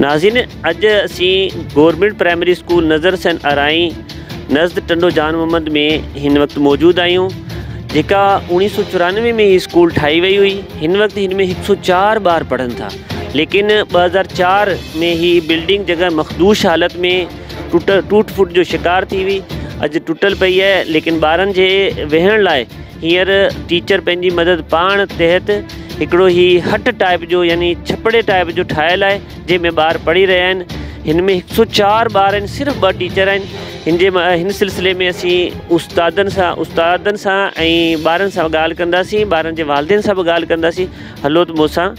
ناظرين اڄ اسين government primary school Nazar Hussain Arain نزد Tando Jan Muhammad ۾ هن وقت موجود آهيون جيڪا اوڻيهه سو چورانوي ۾ هي اسڪول ٺاهي وئي هئي هن وقت هن ۾ هڪ سو چار ٻار پڙهن ٿا ليڪن ٻه هزار چار ۾ هي بلڊنگ جڳهه مخدوش حالت ۾ ٽوٽ ٽوٽ ڦوٽ جو شڪار ٿي هئي اڄ ٽوٽل پئي آهي ليڪن ٻارن جي ويهڻ لاء هينئر ٽيچر پنهنجي مدد پاڻ تحت هڪڙو هي هٽ ٽائيپ جو يعني ڇپڙي ٽائيپ جو ٺاهيل آهي جنهن ۾ ٻار پڙهي رهيا آهن هن ۾ هڪ سؤ چار ٻار آهن صرف ٻه ٽيچر آهن هن جي هن سلسلي ۾ اسين استادن سان استادن سان ۽ ٻارن سان ڳالهه ڪنداسين ٻارن جي والدين سان به ڳالهه ڪنداسين هلو مون سان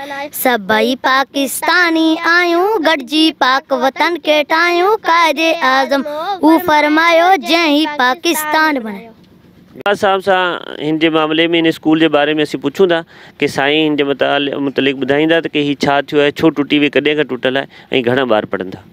سڀئي پاڪستاني آهيون گڏجي پاڪ وطن کي ٺاهيون قائد اعظم اهو فرمايو جنهن هي پاڪستان بڻايو. گاهه صاحب سان هن جي معاملي ۾ هن اسڪول جي باري ۾ اسين پڇون ٿا ڪي سائين هن جي متعلق ٻڌائيندا ته ڪي هي ڇا ٿيو آهي ڇو ٽٽي وئي ڪڏهن کان ٽٽل آهي ۽ گهڻا ٻار پڙهن ٿا.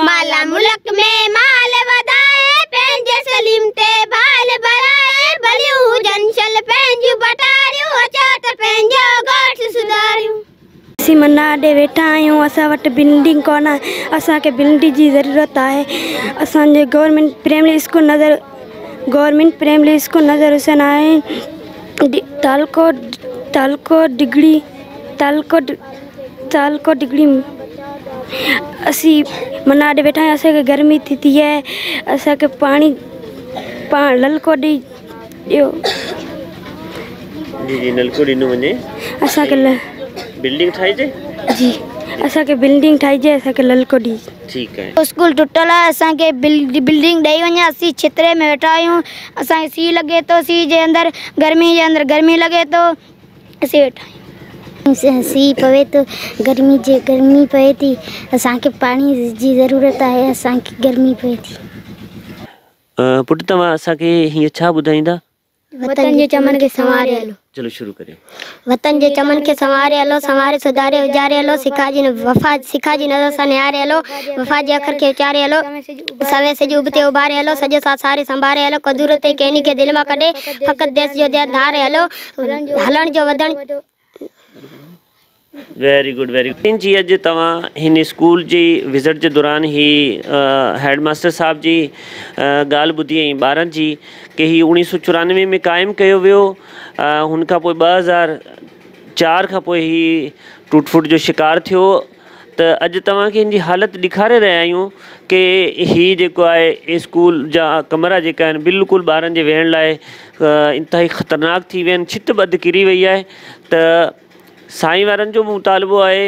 مالا ملڪ ۾ مال وڌائي پنهنجي سليم تي بال ڀرائي ڀليون هجن شل پنهنجيون ڀٽاريون اچو ته پنهنجو ڳوٺ سڌاريون. اسين منا ڏي ويٺا آهيون اسان وٽ بلڊنگ ڪونه اسان کي بلڊنگ جي ضرورت آهي اسان جي government primary school Nazar government primary school Nazar Hussain آهي تعلقو تعلقو ڊگھڙي تعلقو تعلقو ڊگھڙي اسين من آڏي ويٺا آهيون اسان کي گرمي ٿي ٿي اهي اسان کي پاڻي پاڻ للڪو ڏي ڏيو جي جي نلڪو ڏنو وڃي اسان کي بلڊنگ ٺاهي جي جي اسان کي بلڊنگ ٺاهي جي اسان کي للڪو ڏي ٺيڪ آهي اسڪول ٽٽل آهي اسان کي بلڊنگ ڏئي وڃي اسين ڇتري ۾ ويٺا آهيون اسان کي سي لڳي ٿو سي جي اندر گرمي جي اندر گرمي لڳي ٿو اسين ويٺا آهيون. سي پوي ٿو، گرمي جي گرمي پوي ٿي، اسان کي پاڻي جي ضرورت آهي، اسان کي گرمي پوي ٿي. پٽ توهان اسان کي هينئر ڇا ٻڌائيندا؟ وطن جي چمن کي سنواري هلو. چلو شروع ڪريو. وطن جي چمن کي سنواري هلو، سنواري سڌاري اجاري هلو، سکا جي وفا سکا جي نظر سان نهاري هلو، وفا جي اکر کي اچاري هلو، سوين سج ابتي اڀاري هلو، سڄ سان ساري سنڀاري هلو، قدورت ڪيني کي دل مان ڪڍي، فقط ديس جو ديا ڌاري هلو. هلڻ جو وڌڻ جو. ويري گڊ ويري گڊ جي اڄ توهان هن اسڪول جي وزٽ جي دوران هي هيڊ ماستر صاحب جي ڳالهه ٻڌي ۽ ٻارن جي ڪي هي اوڻي سو چورانوي ۾ قائم ڪيو ويو هن کان پوء ٻه هزار چار کان پوء هي ٽوٽ ڦوٽ جو شڪار ٿيو ته اڄ توهان کي هن جي حالت ڏيکاري رهيا آهيون ڪي هي جيڪو آهي اسڪول جا ڪمرا جيڪا آهن بلڪل ٻارن جي ويهڻ لاء انتهائي خطرناڪ ٿي ويا آهن ڇت ٻڌ ڪري وئي آهي ته سائين وارن جو به مطالبو آهي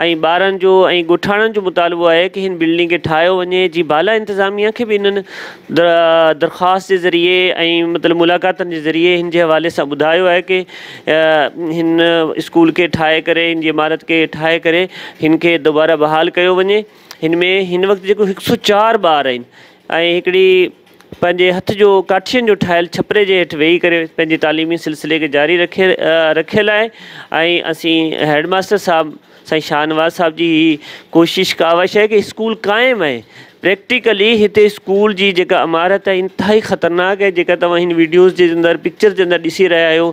۽ ٻارن جو ۽ ڳوٺاڻن جو مطالبو آهي ڪي هن بلڊنگ کي ٺاهيو وڃي جي بالا انتظاميه کي به انهن درخواست جي ذريعي ۽ مطلب ملاقاتن جي ذريعي هن جي حوالي سان ٻڌايو آهي ڪي هن اسڪول کي ٺاهي ڪري هن جي عمارت کي ٺاهي ڪري هن کي دوباره بحال ڪيو وڃي هن ۾ هن وقت جيڪو هڪ سو چار ٻار آهن ۽ هڪڙي پنهنجي هٿ جو ڪاٺين جو ٺاهيل ڇپري جي هيٺ ويهي ڪري پنهنجي تعليمي سلسلي کي جاري رکي رکيل آهي ۽ اسين هيڊ ماستر صاحب سائين شاهنواز صاحب جي هي ڪوشش ڪاوش آهي ڪي اسڪول قائم آهي پريڪٽيڪلي هتي اسڪول جي جيڪا عمارت آهي انتهائي خطرناڪ آهي جيڪا توهان هن ويڊيوز جي اندر پڪچر جي اندر ڏسي رهيا آهيو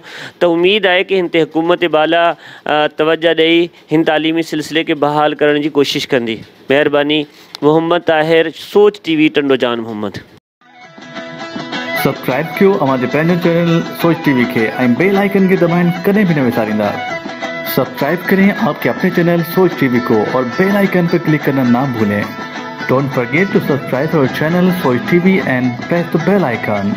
ته اميد آهي ڪي هن تي حڪومت بالا توجه ڏئي هن تعليمي سلسلي کي بحال ڪرڻ جي ڪوشش ڪندي مهرباني Muhammad Tahir Soch T V Tando Jan Muhammad subscribe ڪيو اوهان جي پنهنجي چينل سوچ ٽي وي کي ۽ بيل آئيڪن کي دٻائڻ ڪڏهن به نه وساريندا سبسڪرائب ڪرين آپ ڪي اپني چينل سوچ ٽي وي ڪو اور بيل آئيڪن پي ڪلڪ ڪرنا نا ڀولين ڊونٽ فرگيٽ ٽو سبسڪرائب اور channel Soch T V and press ته بيل آئيڪن.